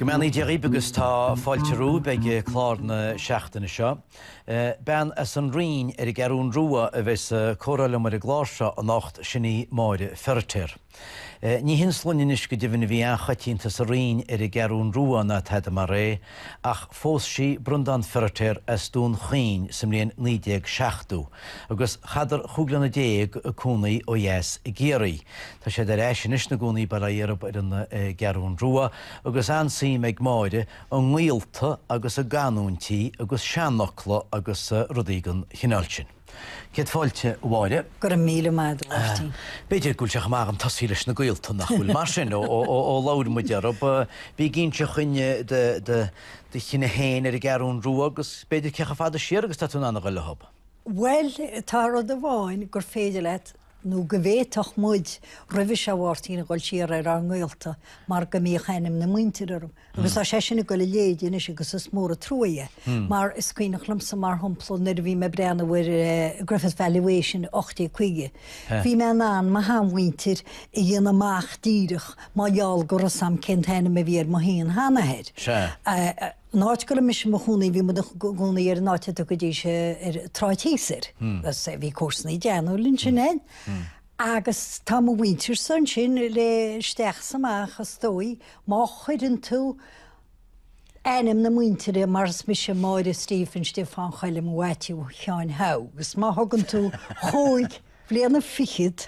Go mbeannaí Dia dhaoibh agus tá fáilte romhaibh ag clár na seachtaine seo. Bean as an Rinn ar an gCeathrún Rua a bheidh sa chomhrá liom ar an gclár seo anocht, sin í Máire Feiritéar. Ní hin sloinne anois go deimhin a bhí an-choitianta sa Rinn ar an gCeathrún Rua ná tada mar é, ach phós sí Breandán Feiritéar as Dún Chaoin sa mbliain 1970 agus chaitheadar chúig bliana déag ag cónaí ó dheas i gCiarraí. Tá siad ar ais anois ina gcónaí bail ó Dhia orthub ar an gCeathrún Rua agus an-suim ag Máire i ngaolta agus i gcanúintí agus seanfhocla agus rudaí den chineál sin. Céad fáilte, a Mháire. Go raibh míle maith agat, a Mháirtín. B'fhéidir go bhfuil sé chomh maith agam tosaí leis na gaolta, nach bhfuil? Mar sin, ó labhair muid orthub, bí ag inseacht dhúinn de do chine féin ar an gCeathrún Rua agus b'fhéidir cé chomh fada siar agus atá tú in ann a dhul leothub. Bhuel, tá rud amháin gur féidir leat nó go bhféadfadh muid roimhe seo Mháirtín a dhul siar ar ár ngaolta mar go mbíodh ainm na muintire orm agus tá sé sin ag dul i léig anois agus is mór an trua é mar is cuimhneach liomsa mar shampla nuair a bhí mé ag breathnú ar Griffith Valuation i 1850 bhí mé in ann mo sheanmhuintir a dhéanamh amach díreach mar gheall go raibh a fhios agam cén t-ainm a bhí ar mo shean-sheanathair. Sea. An áit go raibh mise i mo chónaí bhí muid i gcónaí ar an áit a dtugaidís an tSráid Thíos air, bhí comharsanaí deichniúir linn sin fhéin agus tá mo mhuintirsa ansin le isteach is amach is dóigh má chuireann tú ainm na muintire mar is mise Máire Stephen Stiofáin Choilm Mhaitiú Sheáin Hugh is má thugann tú chúig bhliana fichead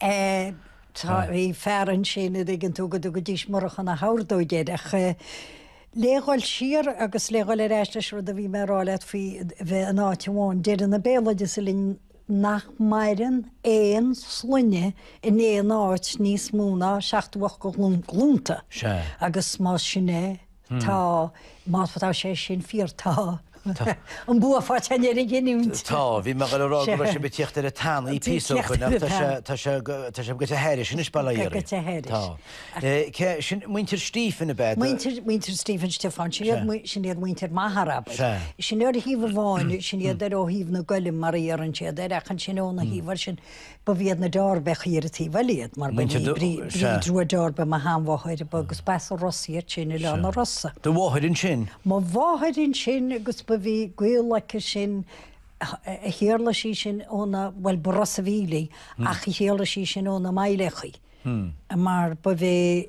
Eh, tá, bhí fear ansin, a' dtuigeann tú, go dtugaidís Murchadh na hOrdóige air, ach eh, le dhul siar agus le dhul ar ais leis an rud a bhí mé a' rá leat faoi bheith in áit amháin, deireann an béaloideas linn nach maireann aon sloinne in aon áit níos mó ná seacht nó ocht de ghlúnta. Sea. Agus más sin é, Tá, má tá sé sin fíor, tá an bua faighte againn ar an gcinniúint. Tá, bhí mé ag rá go raibh sé ag tíocht ar an tanaí píosa ó shoin ach tá sé ag goil ar aghaidh aríst anois bail ó Dhia air. Ag goil ar aghaidh aríst. Tá. Cé sin muintir Stephen ab ea? Muintir Stephen Stiofáin, sin iad muintir m'athar, ab ea. Sin ar thaobh amháin, sin iad ar ó thaobh na gCoilm mar a deireann siad air ach ansin óna thaobh air sin Ba bh'iad na Deáirbeacha ar an taobh eile iad, mar ba é Bríd Rua Deáirbe mo shean-mháthair agus ba as an Ros iad sin, Oileán an Rosa. Do mháthair ansin? Mo mháthair ansin agus ba bhí gaol aici sin, shíolraigh sí sin ó na, bhuel b'as Ros an Mhíl í ach shíolraigh sí sin ó na Máilleachaí mar ba é,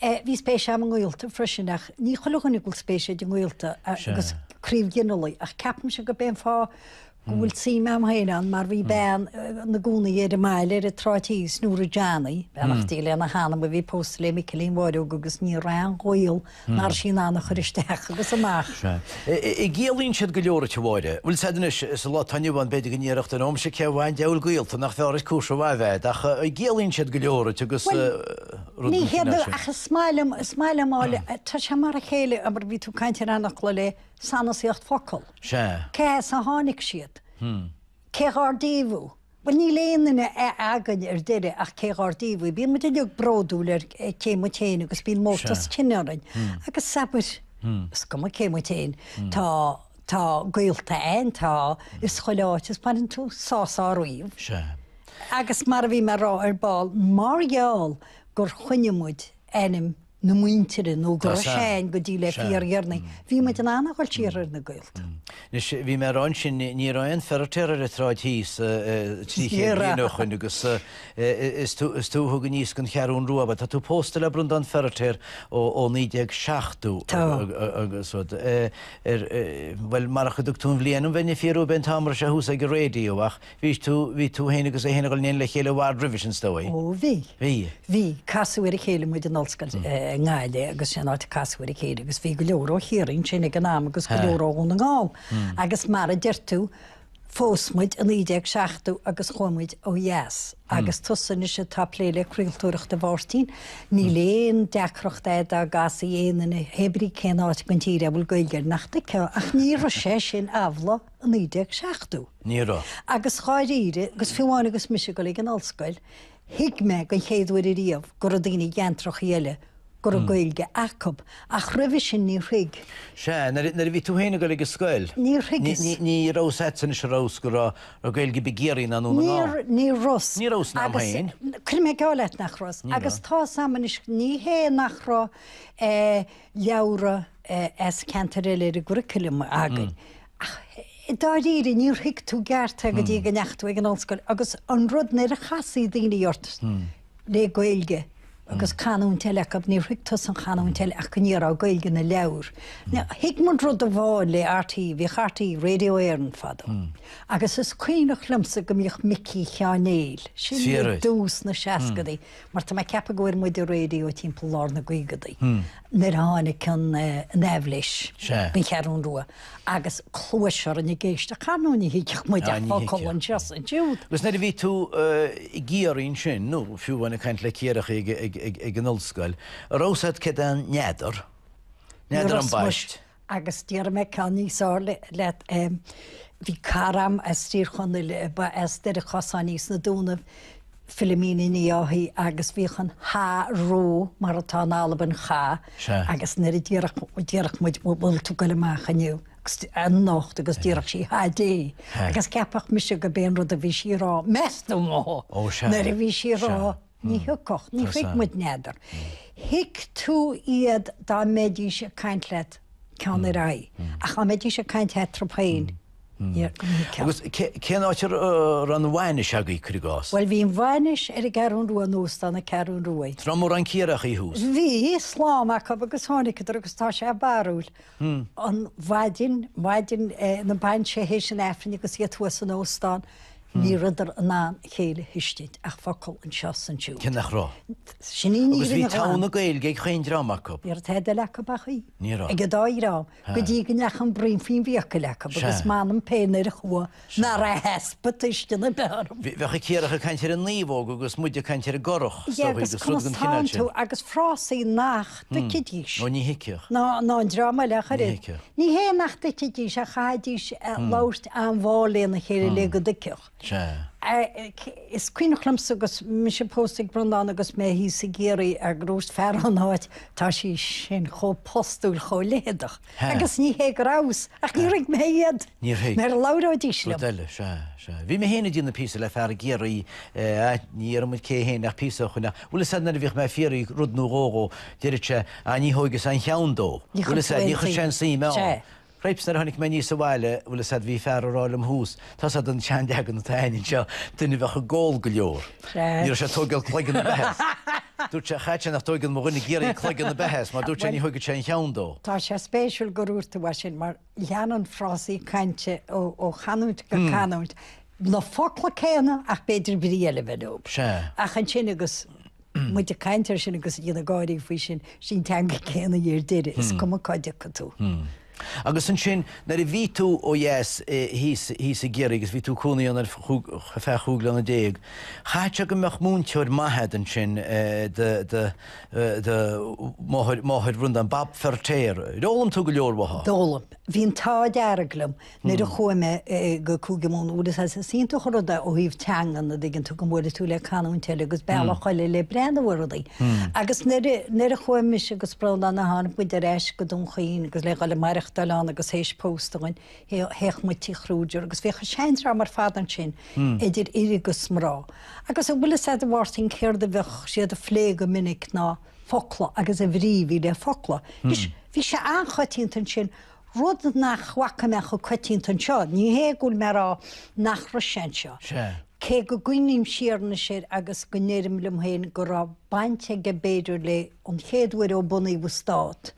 Bhí spéis agam i ngaolta freisin ach ní chuile dhuine a bhfuil spéis aige i ngaolta agus craobh ginealaigh ach ceapaimse gurb é an fáth go bhfuil suim agam féin ann mar bhí bean ina cónaí ar an mbaile ar an tSráid Thíos, Nóra Johnny, beannacht Dé lena hanam a bhí pósta le Micilín Bháireog agus ní raibh aon ghaol nár sí in ann a chur isteach agus amach. An gciallaíonn siad go leor, a Mháire. Bhfuil siad anois, sa lá atá inniu ann b'fhéidir go n-iarracht an aimsir cé amháin diabhal gaolta nach fearr is cúis a bhfáil bheith agat ach an gciallaíonn siad go leor aici agus. rud Ní hé duit ach is maith liom, is maith liom áille, tá sé mar a chéile abair bhí tú ag caint ar anacla le sanasaíocht focal. Sea. Cé as a tháinig siad? Cé dhár díobh thú? Bhuel níl aon duine againn ar deireadh ach cé dhár díobh thú. Bíonn muid uilig bródúil as cé muid féin agus bíonn mórtas cine orainn. Agus abair, is cuma cé muid féin, tá Tá gaolta ann, tá, is chuile áit is baineann tú sásamh ariamh. Sea. Agus mar a bhí mé a' rá ar ball, mar gheall gur choinnigh muid ainm na muintire nó go raibh sé ann go dtí le fíordheireanaí, bhí muid in ann a dhul siar ar na gaolta. Anois, bhí mé a' rá ansin, ní raibh aon Feiritéar ar an tsráid thíos trí chéad bliain ó shoin agus is tú a thug aníos gon Cheathrún Rua, mar tá tú pósta le Breandán Feiritéar ó naoi déag seachtó agus rud. ar, bhuel, marach go dtug tú an bhliain dom, bheinn ag fiafrú ab é an t-am ar thús ag an raidió, ach bhí tú, bhí tú féin agus é féin ag dhul in éineacht le chéile i bhfad roimhe sin, 's dóigh. Ó, bhí. Bhí. Bhí, casadh ar a chéile muid in Ollscoil na Gaillimhe agus sé an áit a casadh ar a chéile agus bhí go leor ó Chiarraí ansin ag an am agus go leor ó Dhún na nGall agus mar a deir tú, Phós muid i 1970 agus chuaigh muid ó dheas. Agus tusa anois atá ag plé le craoltóireacht, a Mháirtín, níl aon deacracht agat dá gcasfaí aon duine, hé brí cén áit den tír é a bhfuil Gaeilge air, nach dtuigfeá. Ach ní raibh sé sin amhlaidh i 1970. Ní raibh. Agus dháiríre, agus fiú amháin agus mise ag dul ag an ollscoil, thuig mé den chéad uair riamh go raibh daoine i gceantracha eile go raibh Gaeilge acu, ach roimhe sin níor thuig. Sea, nuair a bhí tú féin ag dul ag an scoil. Níor thuigeas. Ní raibh a fhios a'd anois, an raibh a fhios, go raibh Gaeilge ar bith i gCiarraí ná i nDún na nGall. Ní raibh a fhios. Ní raibh a fhios a'm féin. Agus cuirfidh mé geall leat nach raibh a fhios. Agus tá's a'm anois, ní hé nach raibh leabhra as ceantair eile ar an gcurriculum againn, ach i dáiríre níor thuig tú i gceart é go dtí go ndeachaigh tú ag an ollscoil agus an rud, nuair a chasfaí daoine ort, le Gaeilge agus canúint eile acu, níor thuig tusa an chanúint eile ach go ndéarfá Gaeilge na leabhar. Thuig muid rud amháin le RTÉ, bhíodh RTÉ, Radio Éireann fadó, agus is cuimhneach liomsa go mbíodh Micí Sheáin Néill, sin i dtús na seascaidí, mar tá mé ag ceapadh go bhfuair muid an raidió timpeall lár na gcaogadaí, nuair a tháinig an aibhléis, gon Cheathrún Rua. Agus cluais orainn ag éisteacht ar ndóigh ní thuigfeadh muid ach focal anseo is ansiúd. Agus nuair a bhí tú i gCiarraí ansin, nó fiú amháin ag caint le Ciarraíoch ag an ollscoil, an raibh 'fhios a'd céard é n'fheadar, n'fheadar ambaist? Agus déarfaidh mé ceann níos fearr leat, bhí cara a'm as Tír Chonaill a ba as Doire Chasáin thíos sna Dúnaibh, Philomena Ní Dháithí agus bhíodh an cha á rá mar atá in Albain cha Sea. agus nuair a déarfadh, déarfadh muid bhfu bhfuil tú ag goil amach inniu, anocht agus déarfadh sí cha dté Sea. agus cheapfadh mise gurb é an rud a bhí sí a rá, meastú mo Ó sea. nuair a bhí sí a rá Sea. ní thiocfadh, ní thuig muid n'fheadar. Thuig tú iad dá mbeidís ag caint leat ceann ar aghaidh ach dá mbeidís ag caint eatarthu féin, Agus cén áit a raibh an bhainis agaibh, cuir i gcás? Bhuel, bhí an bhainis ar an gCeathrún Rua, in Óstán na Ceathrún Rua. An raibh mórán Ciarraíochaí thuas? Bhí, slám acu, agus tháiniceadar, agus tá sé barrúil, an mhaidin, maidin na bainise théis an Aifrinn agus iad thuas san óstán, ní rabhadar in ann a chéile a thuiscint, ach focal anseo 's ansiúd. Cé nach raibh? Sin í an fhírinne ghlan. Agus bhí togha na Gaeilge ag chaon dream acu? Ní raibh tada eile acu ach í. Ní raibh. Ag an dá dhream. go dtí go ndeachaigh an braon faoin bhfiacail acu, agus m'anam féin ar a chumha nach raibh easpa tuisceana ar bith orm. Bheadh an Ciarraíoch ag caint ar an naomhóg agus muide ag caint ar an gcurach, 's an dtuigeann tú, agus frásaí nach dtuigfidís. Ó ní thuigfeadh. Ná an dream eile ach oiread. Ní hé nach dtuigfidís ach chaithfidís labhairt an-mhall lena chéile le go dtuigfeadh. Sea. Is cuimhneach liomsa agus mise pósta ag Breandán agus mé thíos i gCiarraí gur úirt fear ón áit, tá sí sin chomh postúil, chomh leitheadach, agus ní hé go rabhas, ach ní thuig mé iad nuair a labhróidís liom. Rud eile, sea, sea. Bhí mé féin ag déanamh píosa le fear i gCiarraí, ní dhéarfaidh muid cé fhéin ach píosa a choinneáil, bhfuil 'fhios a'd nuair a bhíodh mé ag fiafraí rud nó dhó dhó, deiread sé, ah ní thóigeas aon cheann dó, bhfuil 'fhios a'd, ní chuir sé aon suim ann. Cripes, nuair a tháinig mé aníos abhaile, bhfuil 'fhios a'd, bhí fear a' rá liom thuas, tá 'fhios a'd an seanleagan atá a'inn anseo, duine a bheadh ag ól go leor. Ní raibh sé ag tóigeáil cloigeann ar bith as, dúirt sé, chaithfead sé nach dtóigeann mo dhuine i gCiarraí cloigeann ar bith as, mar dúirt sé, ní thóigead sé aon cheann dó. Tá sé spéisiúil gur úirt tú é sin, mar leanann frásaí cainte ó chanúint go canúint, na focla céanna ach b'fhéidir brí eile a bheith leob. Sea. Ach ansin agus. muid ag caint air sin agus ag déanamh gáirí faoi sin, sí an teanga céanna í ar deireadh, is cuma cá dtiocfaidh tú. Agus ansin, nuair a bhí tú ó dheas thíos i gCiarraí agus bhí tú ag cónaí ann ar feadh chúig bliana déag, chaithfeadh sé go mbeadh múinteoir maith a'd ansin do do do máthair Bhriondáin, Bab Feirtéar. D'fhoghlaim tú go leor uaithi. D'fhoghlaim. Bhí an t-ádh dearg liom. Nuair a chuaigh mé go Cúige Mumhan, a' bhfuil 'fhios a'd, is iontach an rud é ó thaobh teangan, a' dtuigeann tú, go mbuailfidh tú le canúint eile agus bealach eile le breathnú ar rudaí. Agus nuair a, nuair a chuaigh mise agus Breandán a' tháinig muid ar ais go Dún Chaoin agus le dhul a' maireachtáil ann agus théis pósta againn, théadh, théadh muid Tí Khrúger agus bhíodh an seandream ar fad ansin, idir fhir agus mná. Agus a' bhfuil 'fhios a'd a Mháirtín céard a bheadh siad a' phlé go minic ná focla agus an bhrí a bhí le focla. Anois, bhí sé an-choitianta ansin, Rud nach bhfaca mé chomh coitianta anseo. Ní hé go bhfuil mé ag rá nach raibh sé anseo, cé go gcuimhním siar anois air agus go ndeirim liom féin go raibh baint aige b'fhéidir le, an chéad uair ó bunaíodh an stát,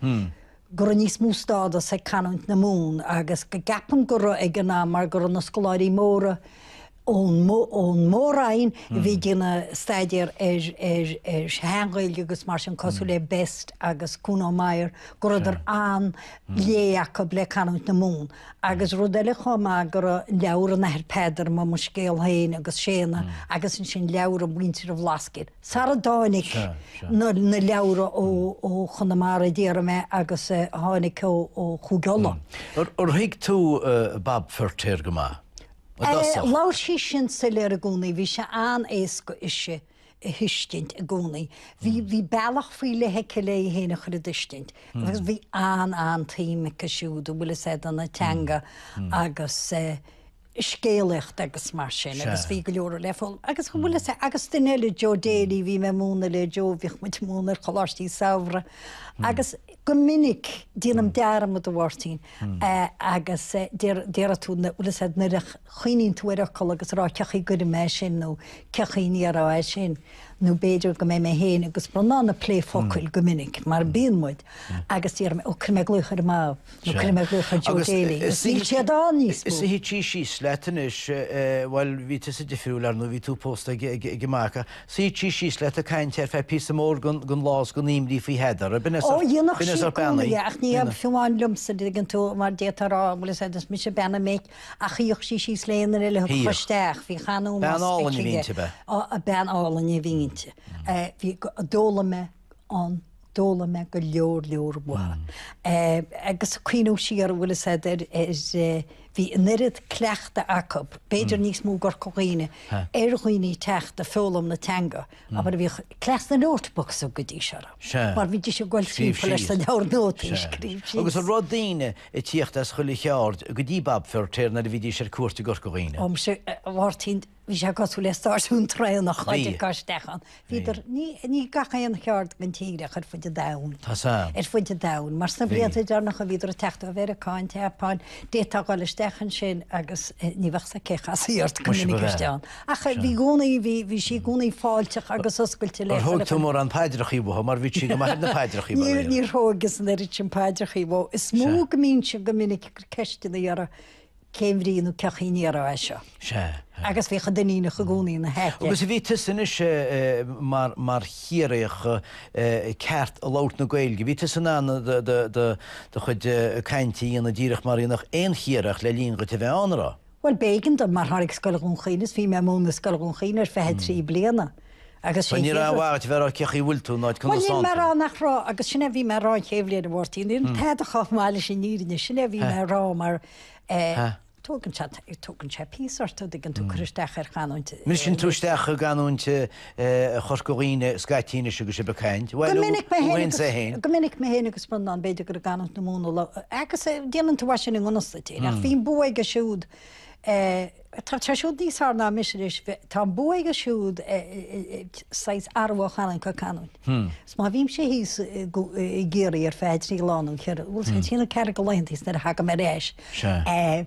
go raibh níos mó stádas ag canúint na Mumhan agus go gceapaim go raibh ag an am mar go raibh na scoláirí móra, ón Mór-Roinn a bhí ag déanamh staidéar ar shean-Ghaeilge agus mar sin, cosúil le Best agus Kuno Meyer, go rabhadar an-lé acu le canúint na Mumhan. Agus rud eile chomh maith go raibh leabhra an Athar Peadar, Mo Mo Scéal Féin agus Séadna, agus ansin leabhra mhuintir an Bhlascaoid, sara dtáinig na leabhra ó Chonamara, a déarfaidh mé, agus a tháinig ó Chúige Uladh. Ar thuig tú Bab Feirtéar go maith? Labhair sí sin soiléir i gcónaí, bhí sé an-éasca ise a thuiscint i gcónaí. Bhí bealach faoi leith aici léi féin a chur i dtuiscint. Agus bhí an-an-tsuim aici siúd, a' bhfuil 'fhios a'd, do na teanga agus scéalaíocht agus mar sin agus bhí go leor le foghlaim. Agus a' bhfuil 'fhios a'd, agus duine eile, Joe Daly, bhí mé ag múineadh le Joe, bhíodh muid ag múineadh ar choláistí samhraidh agus, Go minic, déanaim dearmad, a Mháirtín, agus déarfaidh tú, a' bhfuil 'fhios a'd, nuair a chuimhníonn tú ar fhocal agus a rá, 'cé chaoi a gcuirfidh mé é sin? nó 'cé chaoi a ndéarfá é sin? nó b'fhéidir go mbeidh mé féin agus Breandán ag plé focail go minic, mar a bhíonn muid, agus déarfaidh mé, 'ó, cuirfidh mé glaoch ar an máthair, nó cuirfidh mé glaoch ar Joe Daly, agus níl siad ann níos mó. Is shuíodh sí síos leat anois, bhuel, bhí tusa difriúil, ar ndóigh, bhí tú pósta ag a mac. Suíodh sí síos leat ag caint ar feadh píosa mór den lá is den aoinbhrí faoi Heather, a binneas, Ó, dhéanfadh sí i gcónaí é, ach ní amháin liomsa, tuigeann tú, mar d'fhéadfá a rá, a' bhfuil 'fhios a'd, is mise bean an mhic, ach shuíodh sí síos le aon duine a thiocfadh isteach, bhí chan uaim as aici. Bean álainn a bhí inti, ab ea? Ó, bean álainn a bhí inti. Bhí, d'fhoghlaim mé. ann, d'fhoghlaim mé go leor leor uathu. Agus ag cuimhneamh siar, a' bhfuil 'fhios a'd, ar, ar, bhí an oiread cleachtaidh acu, b'fhéidir níos mó i gCorca Dhuibhne, ar dhaoine ag teacht ag foghlaim na teanga, abair, a bhíodh cleas na notebooks a thugaidís orthu. Mar bhídís ag goil timpeall leis na leabhair nótaí ag scríobh síos. Agus an raibh daoine ag tíocht as chuile cheard go dtí Bab Feirtéar nuair a bhídís ar cuairt i gCorca Dhuibhne? Ó, muise, a Mháirtín, Bhí sé cosúil le stáisiún traenach ag goil isteach ann. Bhíodar, ní, ní gach aon cheard den tír ach ar fud an domhain. Tá sa. Ar fud an domhain. Mar sna blianta deireanacha bhíodar ag teacht ó Mheiriceá, an tSeapáin, d'fhéadfá dul isteach ansin agus ní bheadh a fhios agat cé a chasfaí ort go minic istigh ann. Ach bhí i gcónaí, bhí, bhí sí i gcónaí fáilteach agus oscailte leo. Ar thóg tú mórán paidreachaí uaithi mar bhí sí go maith ar na paidreachaí, ba léir. Níor thógas an oiread sin paidreachaí uaithi. Is mó go mbínnse go minic ag cur ceisteanna uirthi. cén bhrí nó cén chaoi a ndéarfá é seo? Sea. Agus bhíodh an Duinníneach i gcónaí ina haice. Agus bhí tusa anois mar Chiarraíoch ceart ag labhairt na Gaeilge, bhí tusa in ann do chuid cainte a dhéanamh díreach mar a dhéanfadh aon Chiarraíoch le linn dhuit a bheith ann, an raibh. Bhuel, b'éigean dom, mar tháinig Scoil Dhún Chaoin is bhí mé i mbun na Scoile Dhún Chaoin ar feadh trí bliana agus sin Bhuel, ní raibh aon mhaith dhuit a bheith a rá cén chaoi a bhfuil tú ná conas atá tú. Bhuel, níl mé a rá nach raibh, agus sin é a bhí mé a rá an chéad bhliain a Mháirtín, níl tada chomh maith leis an bhfírinne, sin é a bhí mé a rá mar, Tógann sé píosa ort, an dtuigeann tú, cur isteach ar chanúint. Briseann tú isteach i gcanúint Chorca Dhuibhne, Scaití anois agus sibh ag caint. Go minic mé féin is ea féin. Go minic mé féin agus Breandán, b'fhéidir gur i gcanúint na Mumhan a. Agus déanann tú mar sin i ngan fhios duit féin, ach bhíonn bua aige siúd, tá sé siúd níos fearr ná mise, arís tá an bua aige siúd saghas athrú ó chanúint go canúint. Is má bhímse thíos i gCiarraí ar feadh trí lá nó cheithre, bhuel, trí nó ceathair de laethanta thíos nuair a thagaim ar ais.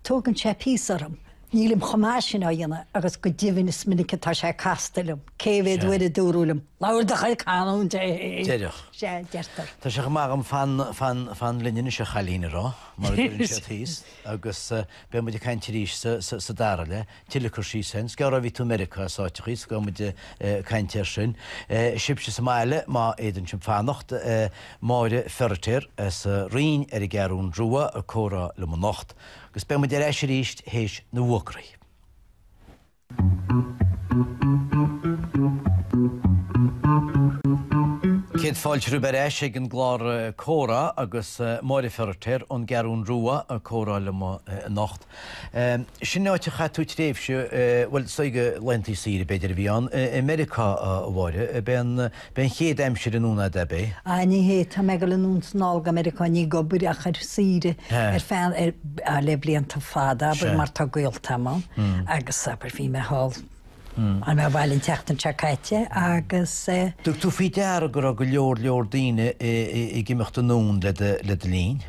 Tógann sé píosa orm. Nílim chomh maith sin á dhéanamh agus go deimhin is minic atá sé casta liom. Cé mhéad uair a dúradh liom, 'Labhair do chuid canúint! Deireadh. Sea, deirtear. Tá sé chomh maith agam 'fan, fan, fan linn anois, a chailín' a rá, mar a deireann siad thíos, agus beidh muid ag caint arís sa dara leath. Tuilleadh cur síos ansin, is gearr ó bhí tú i Meiriceá, is áiteachaí is gabhfaidh muid ag caint air sin. Sibhse sa mbaile, má fhéadann sibh fanacht. Máire Feiritéar as an Rinn ar an gCeathrún Rua ag comhrá liom anocht. Agus beidh muid ar ais arís théis na bhfuagraí. Céad fáilte romhaibh ar ais ag an gclár Comhrá agus Máire Feiritéar ón gCeathrún Rua ag comhrá liom anocht. Sin áit a chaith tú tréimhse, bhuel, is dóigh gur laethantaí saoire, b'fhéidir, a bhí ann, i Meiriceá, a Mháire. B'é an, b'é an chéad aimsir anonn a'd, ab é? Á, ní hé, tá mé ag dul anonn is anall go Meiriceá, ní ag obair ach ar saoire, ar feadh, ar, á, le blianta fada, abair, mar tá gaolta a'm ann, agus, abair, bhí mé thall, tháinig mé abhaile an tseachtain seo caite agus eh. An dtug tú faoi deara go raibh go leor leor daoine ag imeacht anonn le do, le do linn?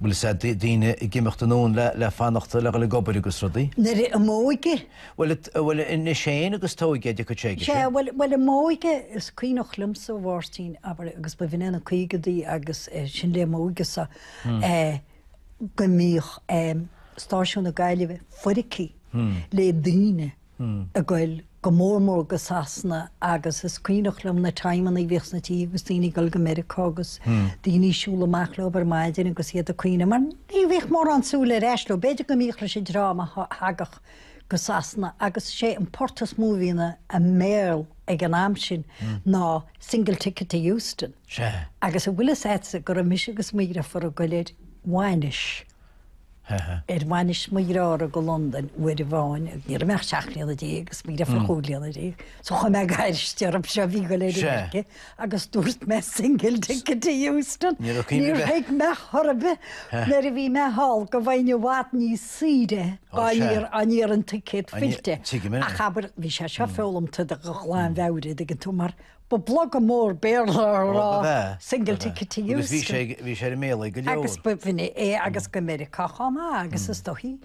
Bhuel, is ea, daoine ag imeacht anonn le fanacht, le dhul ag obair agus rudaí. Nuair a m'óige. Bhuel, anois féin agus t'óige, a d'fhiuchadh sé aige sin. Sea, bhuel, a m'óige, is cuimhneach liomsa, a Mháirtín, abair, agus b'in iad na caogaidí agus sin le m'óige-sa, go mbíodh stáisiún na Gaillimhe foirgthe le daoine ag goil go mór mór go Sasana agus is cuimhneach liom na timeanna a bhíodh sna tithe agus daoine ag goil go Meiriceá agus daoine ag siúl amach leo ar maidin agus iad ag caoineadh mar ní bhíodh mórán súil ar ais leo. B'fhéidir go mbíodh leis an dream a thagadh go Sasana agus sé an port is mó a bhí ina mbéal ag an am sin ná Single Ticket to Euston agus an bhfuil fhios a'dsa go raibh mise agus mo dheirfiúr ag goil ar bhainis Ar bhainis mo dhearthár go Londain uair amháin, ní raibh mé ach seacht mbliana déag, is mo dheirfiúr chúig bliana déag, so chuir mé gaisce orm, seo a bhí go léir aige, agus dúirt mé single ticket to Euston. Níor thuig mé chor ar bith. Nuair a bhí mé thall go bhfaighinn i bhfad níos saoire dá n-iarrfainn ticket fillte. Ach abair, bhí sé seo foghlamtha de ghlanmheabhair, a dtuigeann tú, mar Ba blogam mór Béarla a Ó, ba raibh ea, single ba ea. ticket to Agus bhí sé Euston. ag- bhí sé i mbéal go leor. Agus b'in é agus go Meiriceá chomh maith agus is dóichí.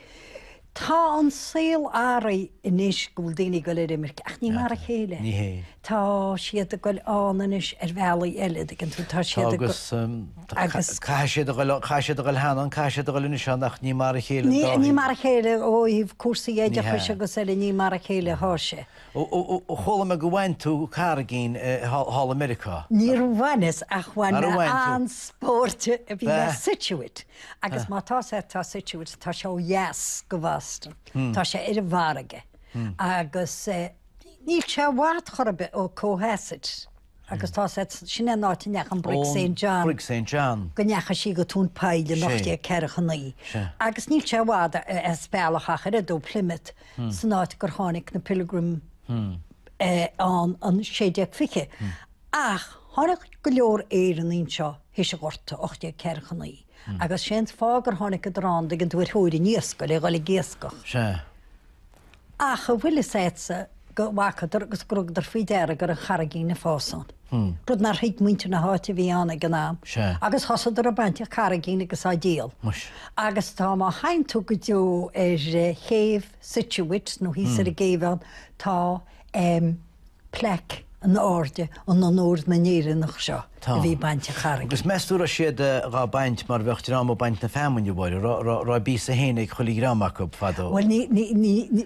Tá an saol athraithe anois go bhfuil daoine ag dul ar imirce ach ní mar a chéile. Ní hé. Tá siad ag dul ann anois ar bhealaí eile, dtuigeann tú, tá Tá siad ag agus dul- um, tá- agus- ca- caithfidh siad a dhul an- caithfidh siad a dhul cheana an caithfidh siad a dhul anois ann ach ní mar a chéile an Ní, dá ní thaobh. mar a chéile ó thaobh cúrsaí Ní hea. oideachais agus eile ní mar a chéile a thá sé. Ó, chuala mé gur bhain tú carraigín thall i Meiriceá. Níor bhaineas ach bhain mé an-spóirt, bhí mé i Scituate agus má tá sé atá Scituate tá sé ó dheas de Bhoston, tá sé ar an bhfarraige agus níl sé i bhfad chor ar bith ó Cohasset agus tá sé, sin é an áit a ndeachaigh an Brig Saint John. An Brig Saint John. Go ndeachaigh sí go tóin poill in 1849 agus níl sé i bhfad as bealach ach an oiread ó Plymouth. san áit gur tháinig na Pilgrim ann in 1620. Ach tháinig go leor Éireannaigh anseo théis an Ghorta, 1849, agus sé'n fáth gur tháiniceadar ann dtuigeann tú ar thóir an iascaigh, le dhul ag iascach. Sea. Ach an bhfuil fhios a'dsa go bhfacadar agus gur thugadar faoi deara go raibh carraigín ag fás ann? Rud nár thuig muintir na háite a bhí ann ag an am. Agus thosaíodar ag baint carraigín agus á díol. Agus tá, má theigheann tú go deo ar chéibh Scituate, nó thíos ar an gcéibh ann, tá plaic in airde in onóir na nÉireannach seo a bhí ag baint an charraigín. Agus meas tú, raibh siad dhá baint mar bheadh dream ag baint na feamainne, a Mháire? Raibh a bpíosa féin ag chuile dhream acu fadó? Bhuel, ní, ní, ní, ní.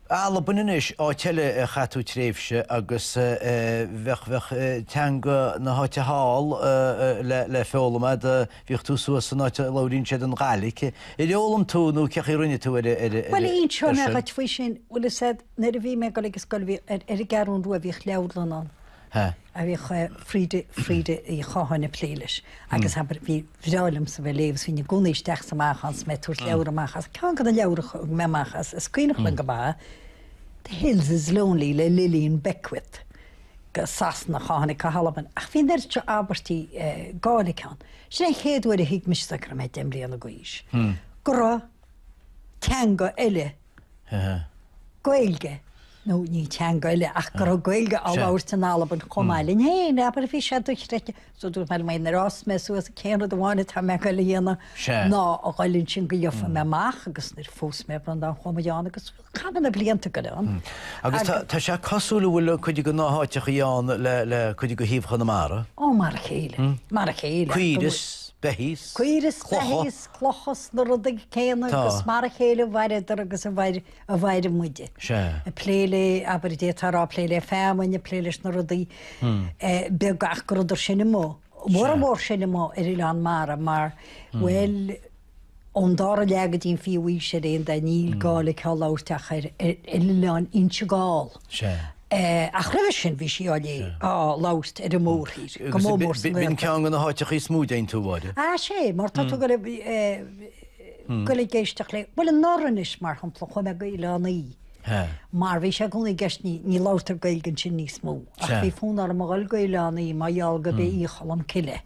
Albain anois, áit eile ar chaith tú tréimhse agus bheadh, bheadh teanga na háite thall le, le foghlaim a'd, bhíodh tú suas san áit a labhríonn siad an Ghaidhlic, ar fhoghlaim tú nó cé chaoi a rinne tú ar, ar, ar, Bhuel, ar inseoidh mé sin? dhuit faoi sin, bhfuil a fhios a'd, nuair a bhí mé ag dul ag an scoil bhí, ar, ar an gCeathrúin Rua bhíodh leabharlann ann. ha. Bhíodh Frida, Frida Uí Chatháin ag plé leis agus abair, ba bhreá liomsa bheith ag léamh is bhínn i gcónaí isteach sa amach ann is mé ag tabhairt leabhra amach as, ceann de na leabhra a thug mé amach as is cuimhneach liom go mba The Hills is Lonely le Lilian Beckwith go Sasanach a tháinig go hAlbain ach bhí neart seo abairtí Gàidhlig ann. Sin an chéad uair a thuig mise go raibh mé deich mbliana d'aois go raibh teanga eile Gaeilge, nó ní teanga eile ach go raibh Gaeilge á labhairt in Albain chomh maith linn féin, abair, bhí sé dochreidte. So dúirt mé le Máire, nuair a fhás mé suas, sé an rud amháin atá mé ag dul a dhéanamh ná a dhul ansin go ngeofaidh mé amach agus nuair a phós mé Breandán chuaigh muid ann agus chaith muid na blianta ag dul ann. Agus tá sé cosúil go bhfuil cuid de na háiteachaí ann le cuid de thaobh Chonamara. Ó, mar a chéile, mar a chéile. Caoirigh is beithígh is, clocha. clocha is na rudaí céanna Tá. agus mar a chéile a mhaireadar agus a mhair, a mhair muid. Sea. Ag plé le, abair, dé tá a rá, ag plé le feamainn, ag plé leis na rudaí eh, beag ach go rabhadar sin ní ba mhó, go mór Sea. mór sin ní ba mhó ar oileáin mhara mar, bhuel, ón dara leath go dtí an fichiú haois ar aon dóigh, níl Gàidhlig á labhairt ach ar, ar, ar oileáin Inse Gall. Ach roimhe sin bhí sí á labhairt ar an mórthír, go mór mór san Ghaeltacht. B'in ceann de na háiteacha is mó a dtéann tú, ab ea. Á sé, mar tá tú ag iarraidh a dhul ag éisteacht léi. Bhuel, anuraidh anois, mar shampla, chuaigh mé go hOileán Í, mar bhí sé i gcónaí i gceist, ní labhartar Gaeilge ansin níos mó, ach bhí fonn orm a dhul go hOileán Í mar gheall gurb é Í Cholm Cille.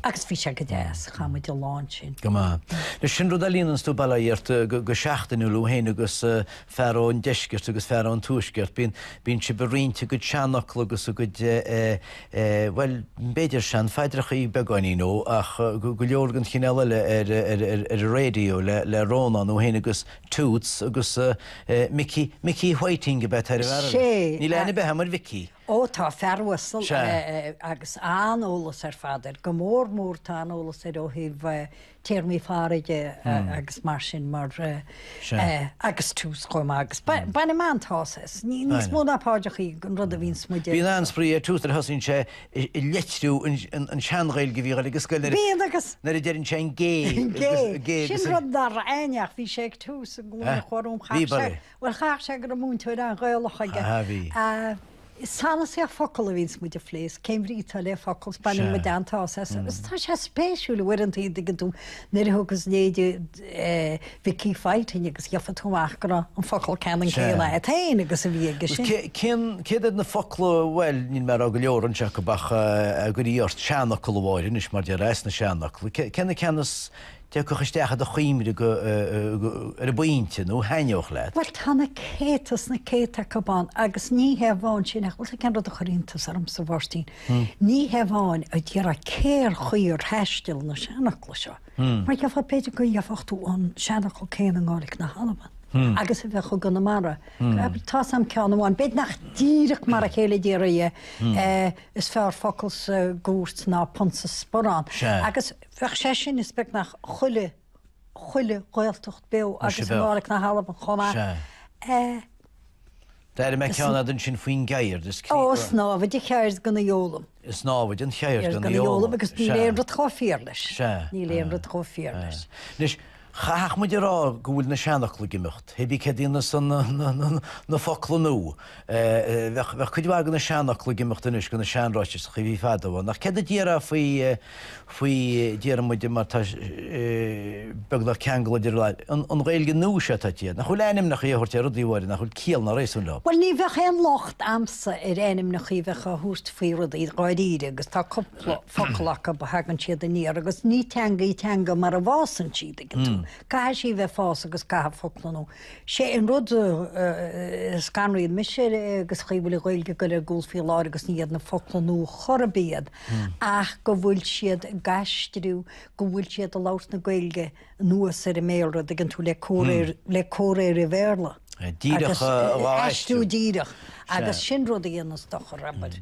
Agus bhí sé go deas, chaith muid lá ansin. Go maith. Bhuel, sin rud a líonanns tú Ballyheirt go seachtainiúil ó shin agus fear ón deisceart agus fear ón tuaisceart, bíonn, bíonn sibh ag roinnt a gcuid seanfhocla agus a gcuid, bhuel, b'fhéidir seanphaidreachaí beagáinín nó, ach go leor den chineál eile ar, ar, ar, ar an raidió le, le Rónán ó shin agus Toose agus Mickey, Mickey Whiting ab ea atá ar an bhfear eile. Níl aithne ar bith agam ar Mhicí. Ó, tá fear uasal Sea. agus an-eolas ar fad air, go mór mór tá an-eolas air ó thaobh téarmaí farraige agus mar sin mar Sea. eh, agus Toose chomh maith agus ba- bainim an-tsásamh as, ní- níos Baineann. mó ná paidreachaí an rud a bhíonns muid a Bíonn an-spraoi ar Toose nuair a thosaíonn sé i- i leitriú an- an an tsean-Ghaeilge a bhíodh air ag an scoil nuair a- Bíonn agus nuair a deireann sé an gé, Gé, agus- gé agus sin an- rud dar aithne ach bhí sé ag tús an ghlúin Eh, a chur um bhí chach sé. bara. Bhuel, chaithfeadh sé go raibh múinteoir an-Ghaelach aige. Sea, bhí. Sanasaíocht focal a bhíonns muid a phlé, is cén bhrí atá le focal, is baineann muid an-tsásamh as. Agus tá sé spéisiúil, uaireanta, an dtuigeann tú, nuair a thugas leithéide Mhicí Phaidín agus gheofá tú amach go raibh an focal ceannann céanna agat féin agus a bhí aige sin. Agus cén, céard iad na focla, bhuel, níl mé ag rá go leor anois acu ach ag iarraidh ort seanfhocal a Mháire anois, mar deir, as na seanfhocla, cé na ceanna a. dtiocfadh isteach i do chuimhne go, ar an bpointe, nó thaitneodh leat. Bhuel, tá na céadta is na céadta acu ann, agus ní hé amháin sin, ach bhfuil fhios agat cén rud a chuir iontas ormsa, Mháirtín, ní hé amháin a déarfá cén chaoi ar thaisteal na seanfhocla seo, mar gheofá b'fhéidir go gheofadh tú an seanfhocal céanna i nGàidhlic na hAlban agus a bheadh i gConamara. Tá's a'm ceann amháin, b'fhéidir nach díreach mar a chéile a déarfaí é, 'is fearr focal sa gcúirt ná punt sa sporán', agus. Bheadh sé sin is beagnach chuile, chuile Ghaeltacht beo Mar sin agus Gàidhlic na hAlban chomh maith. Sea. Eh, D'airigh mé ceann eile ansin faoin gceird. Is crí- Ó, is námhaid an cheird gan a foghlaim. Is námhaid an cheird Cheird gan a foghlaim agus níl Sea. aon rud chomh fíor leis. Sea. Níl aon rud chomh fíor leis. Anois, Chaithfeadh muid a rá go bhfuil na seanfhocla ag imeacht, hé bí céard ina shon na focla nua. Bheadh cuid mhaith de na seanfhocla ag imeacht anois de na seanráiteachaí a bhí fadó ann. Ach céard a déarfá faoi, faoi, déarfaimid, mar tá beagnach ceangal idir an Ghaeilge nua seo atá ag, nach bhfuil ainmneacha a thabhairt ar rudaí a Mháire nach bhfuil ciall ná réasún leo. Bhuel ní bheadh aon locht a'msa ar ainmneacha a bheith á thabhairt faoi rudaí dáiríre agus tá cupla. focal acu a dtagann siad aniar agus ní teanga í teanga mara bhfásann sí, tuigeann tú. Caithfidh sí bheith ag fás agus caithfidh focla nua. Sé an rud a scanraíonn mise an chaoi bhfuil an Ghaeilge ag gabháil ar gcúl faoi láthair agus ní iad na focla nua chor ar bith iad ach go bhfuil siad ag aistriú, go bhfuil siad ag labhairt na Gaeilge anuas ar an mBéalra, tuigeann tú, le comhréir, le comhréir an Bhéarla. Díreach dhá aistriú. Aistriú díreach agus sin rud a dhéananns dochar, abair.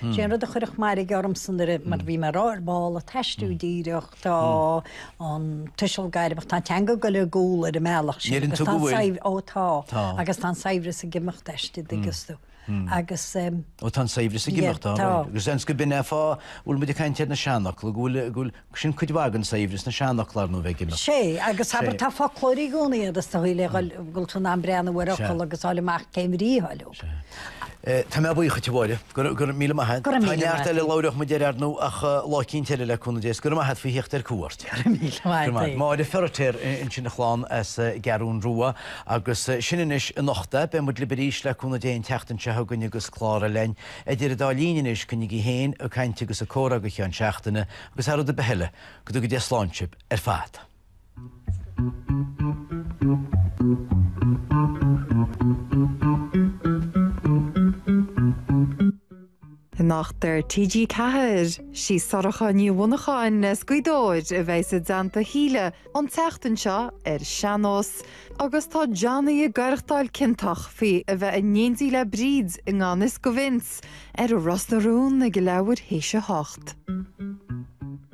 Sé an rud a chuirfeadh mairg ormsa nuair a, mar bhí mé ag rá, ar ball an t-aistriú díreach, tá an tuiseal gairmeach, tá an teanga ag goil ar gcúl ar an mbealach sin, agus tá an saibhreas, ó tá, agus tá an saibhreas ag imeacht aisti, tuigeann tú, agus, ó tá an saibhreas ag imeacht, tá, agus seans gob in an fáth, bhfuil muid ag caint ar na seanfhocla, go bhfuil, go bhfuil, Sin cuid mhaith den saibhreas, na seanfhocla, ar ndóigh, a bheith ag imeacht. Sea, agus abair, tá foclóir i gcónaí agus tá tú in ann breathnú ar fhocal agus fháil amach cén bhrí atá leo. Tá mé buíoch duit, a Mháire. Go raibh míle maith agat. Go raibh míle maith agat. Tá neart eile a labhródh muid air, ar ndóigh, ach lá eicínt eile, le cúnamh Dé. Is go raibh maith agat faoi theacht ar cuairt. Go raibh míle maith agat. Go raibh maith. Máire Feiritéar ansin, ag caint linn as an gCeathrún Rua. Agus sin anois é anocht. Beidh muid libh arís, le cúnamh Dé, an tseachtain seo chugainn agus clár eile linn. Idir an dá linn anois, coinnigí féin ag caint agus ag comhrá go ceann seachtaine agus thar rud ar bith eile, go dtuga Dia slán sibh ar fad. Anocht ar TG4, sí Sorcha Ní Mhonacháin as Gaoth Dobhair a bheidh i dteannta Shíle an tseachtain seo ar Sean-Nós. Agus tá Johnny ag aireachtáil ciontach faoi a bheith in éindí le Bríd, i ngan fhios do Vince, ar Ros na Rún ag leathuair théis a hocht.